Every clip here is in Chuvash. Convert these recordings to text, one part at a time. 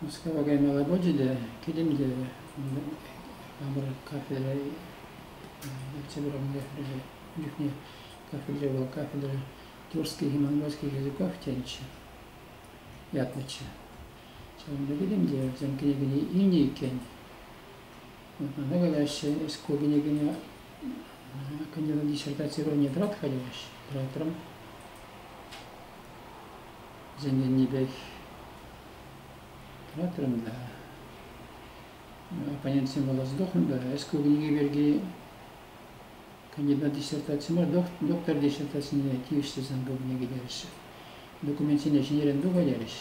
Мускава каймалла пулчӗ те килтӗм те хамӑр кафере ертсе пырам кафере чухне кафере вӑл кафедра Тульских и Монгольских языков тенччӗ ятнӑччӗ. Ҫавӑнпа килтӗм те вӗсем кӗнекене илнӗ иккен. Вот мана калаҫҫӗ, эс ку кӗнекене кандидат диссертации уровня тӑратха теҫҫӗ, тӑратрӑм. Вӗсенченнипех тӑратрӑм та оппонентсем калас тӑк ӗнтӗ ӗҫке кунхи пирки кандидат диссертаци мар, доктор диссертацине тивӗҫлӗ санкупне кӗтерӗҫҫӗ. Документсене ҫӗнӗрен туха терӗҫ.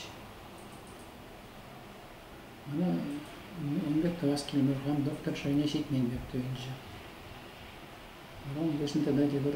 Мана ун пек тӑвас килмӗ, хам доктор шайне ҫитмен пек туйӑнчӗ. Вара ун пуҫне тата тепӗр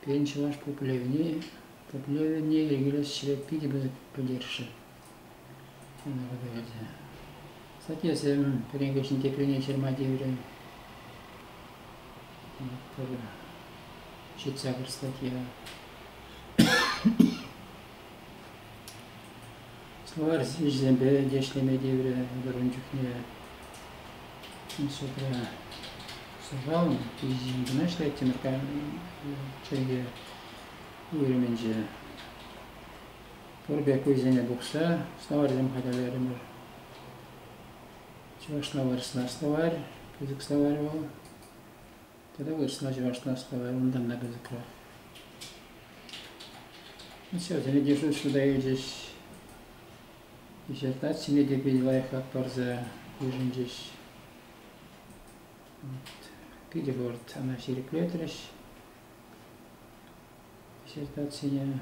Пирӗн чӑваш пуплевне пуплевне йӗркелес ӗҫре питӗ пысӑк пӗлтерӗшлӗ ӗнтӗ. Статьясем, пӗрин теприне ҫырма тиврӗ. Пӗр ҫитса пӗр статья. Словарь ӗҫӗсемпе те ӗҫлеме тиврӗ вырӑн чухне. Судра суйлавӑн пичӗҫӗн кӑна ӗҫлеттӗмӗр чӗлхе уйрӑмӗнче. Пур пек вӑйсене пухса словарьсем хатӗрлерӗмӗр. Чӑвашла вырӑсла словарь, пысӑк словарь вӑл. Тата вырӑсла, чӑвашла ӑсталай унтан та кӑсӑкра. Все, сире держу суда илчӗҫ. Диссертацине те питӗ лайӑхлах парса йышӑнчӗҫ. Вот. Питӗ хӑвӑрт ана ҫирӗплетрӗҫ. диссертацие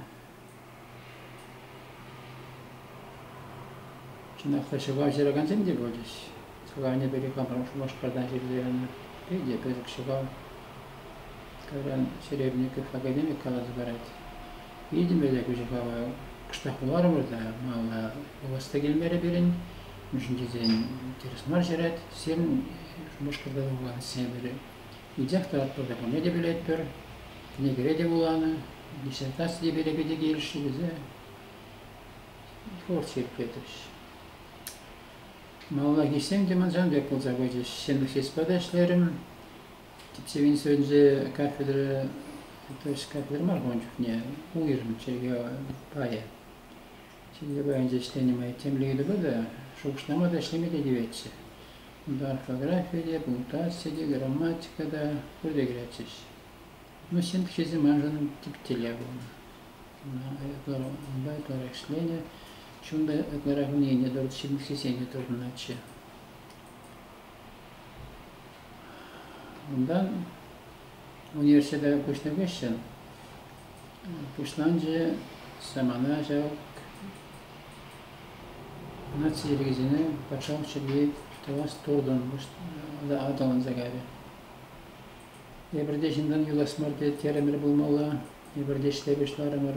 чӑнах та ҫӑва ҫыракансем те пулчӗҫ. Сӑланӗ пирки хамӑрӑн Шупашкартан ҫырса янӑ питӗ пысӑк ҫӑкав. Кайран Серебренников академик каласа парать. Витӗмлӗ те ку ҫӑкава кӑштах вуларӑмӑр та малалла вулас та килмерӗ пирӗн. Мӗншӗн тесен интерес мар ҫырать. Сирӗн Шупашкарта та вуланӑ сепӗр Питех те ӑслӑ пулнине те пӗлетпӗр. Кӗнекере те вуланӑ, диссертаци те пире питӗ килӗшрӗ тесе творчество итлетӗҫ. Малалла хисем те ман сан пек пулса пычӗҫ. Семӗрхиспа та ӗҫлерӗм. Типсе Винсенте кафедра, то есть кафедра мар ун чухне, уйрӑм чӗлхе пайӗ. Ҫитӗнчӗ паянче ӗҫленӗ май темле ыйтупа та, шухӑшлама та, ӗҫлеме те тиветчӗ. Унта орфографи те, пунктуаци те, грамматика та пурте кӗретчӗҫ. Но ҫын пуҫӗсем маншӑн тип телей пулнӑ. Унпа ытларах ӗҫленӗ. Чунта ытларах унене тӑрӑх ҫирӗплетсен те тупӑнатчӗ. Унтан университета куҫнӑ хыҫҫӑн пуҫланчӗ самана ҫав наци йӗркисене патшалӑх чӗлхи тӑвас туртӑм аталанса кайрӗ. Эпир те ҫынтан юлас мар терӗмӗр пулмалла, эпир те ӗҫле пуҫларӑмӑр.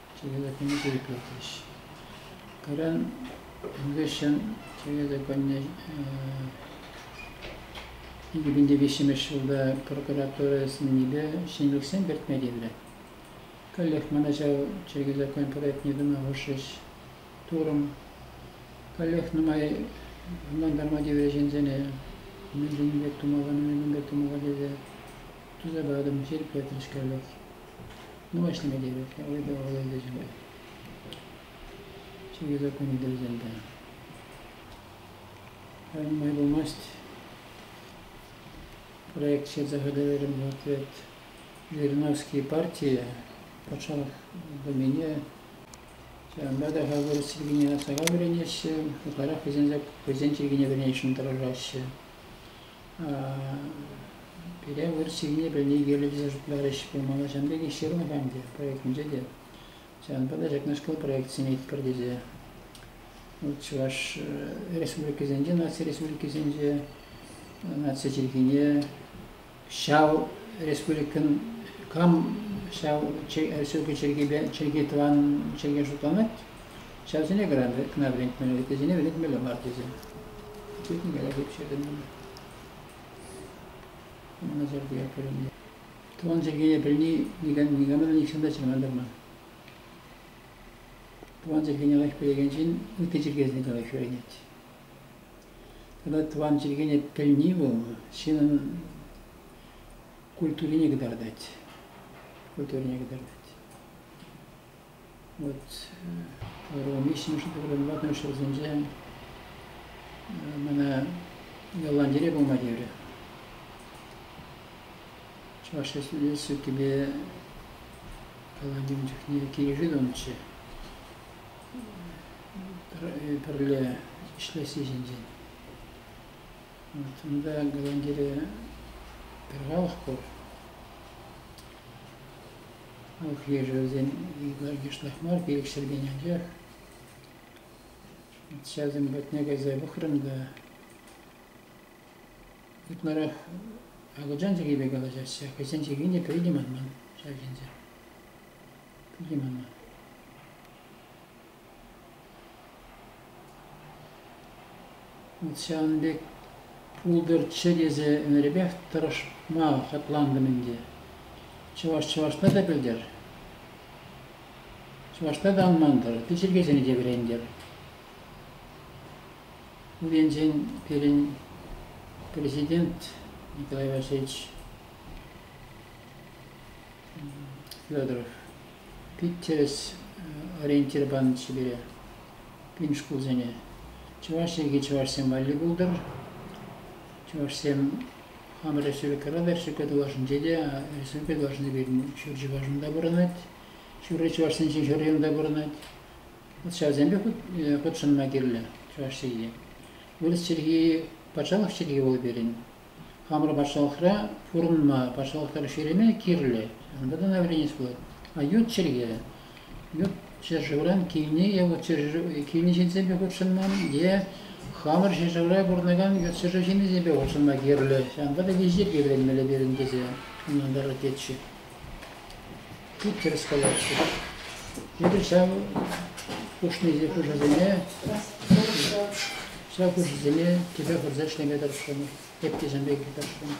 чӗрелӗхне те ӳкерчӗҫ. Кайран ун хыҫҫӑн чӗрелӗхне икӗ пин те виҫҫӗмӗш ҫулта прокуратура сӗннипе ҫӗнӗлӗхсем кӗртме тиврӗ. Каллех мана ҫав чӗркӳ закон проектне тума хушрӗҫ турӑм. Каллех нумай ӑнлантарма тиврӗ ҫынсене, мӗн пек тумалла, мӗн пек тумалла тесе туса патӑм, ҫирӗплетрӗҫ каллех. Нумаҫлама тивет, вӑйпа вӑл ӗнтӗ чупать. Ҫӳхе кун тӗлсем те. Нумай пулмасть проект ҫырса хатӗрлерӗм ответ Жириновские партии патшалӑх домене ҫавӑнпа та хапӑр чиркӗне асрама вӗренеҫҫӗ, ытларах хӑйсен, хӑйсен чиркӗне вӗренесшӗн тӑрӑшаҫҫӗ. Пире выр ҫынни пӗлни кирлӗ тесе шутларӗҫ. Пирӗн малашан пекех ҫырнӑ ӗнтӗ проектӗнче те. Ҫавӑнпа та ҫакнашкал проект сӗнетпӗр тесе. Вӑл Чӑваш республикисенче, наци республикисенче наци чӗлхине ҫав республикӑн кам ҫав чӗлхе чӗлхи тӑван чӗлхе шутланать Ҫавсене кӑрантрӗ кӑна вӗрентмелле, вӗсене вӗрентмелле мар тесе. Пӳртне каялла ӳпшертӗм мана. Ӑна сӗртме кӗрӗннӗ. Тӑван чӗлхене пӗлни никам, никама та нихҫан та чӑрмантарман. Тӑван чӗлхене лайӑх пӗлекен ҫын ытти чӗлхесене те лайӑх вӗренет. Тата тӑван чӗлхене пӗлни вӑл ҫынӑн культурине кӑтартать. Культурине кӑтартать. Вот ывӑлӑм виҫҫӗмӗш ывӑлӗн ватӑмӗш ҫулсенче мана Голландире пулма тиврӗ. Чӑваш Республикипе Голландин чухне килӗшӳ тунӑччӗ. Пӗрле ӗҫлесси ҫинчен. Вот унта Голландире пӗр халӑх пур. Ух-лешӗвсем икӗ йышлах мар, пилӗкҫӗртен анчах. Ҫавсем патне кайса пӑхрӑм та ытларах акӑлчан чӗлхипе калаҫаҫҫӗ. Хӑйсен чӗлхин те пӗри те манман ҫав ҫынсем. Пӗри те манман. Ҫавӑн пек пултӑр чӗ тесе ӗнерпех тӑрӑшма хӑтлантӑм ӗнтӗ. Чӑваш чӑвашла та пӗлтӗр, чӑвашла та ӑнлантӑр, тӗ чӗлхесене те вӗрентӗр. Ун енчен пирӗн президент Николай Васильевич Федоров Пит тӗрӗс ориентир панӑччӗ пире, пин шкулсене. Чӑваш чӗлхи чӑвашсем валли пултӑр. Чӑвашсем хамӑр республикӑра та, республика тулашӗнче те, республика тулашӗнче пирӗн ҫур чӑвашӑн та пурӑнать, ҫурри чӑвашсенчен ҫуррин та пурӑнать. Вӑт ҫавсемпе хутшӑнма кирлӗ чӑваш чӗлхи. Вырӑс чӗлхи патшалӑх чӗлхи вӑл пирӗн. Хамӑр патшалӑхра пурӑнма патшалӑх тӑрӑх ҫӳреме кирлӗ. Унта та вӗренес пулать. А ют чӗлхе, ют ҫӗршывран килне е вот килне ҫитсепе хутшӑнман е хамӑр ҫӗршывра пурӑнакан ют ҫӗршыв ҫыннисемпе хутшӑнма кирлӗ. Ҫавӑнпа та виҫе вӗренмелле пирӗн тесе ӑнлантарать тетчӗ. пӳрт тӗрӗс каятчӗ. Эпир ҫав хушнипе хушасене ҫав хушисене тӗпе хурса ӗҫлеме тӑрӑшрӑмӑр, пепкесем пек тӑрӑшрӑмӑр.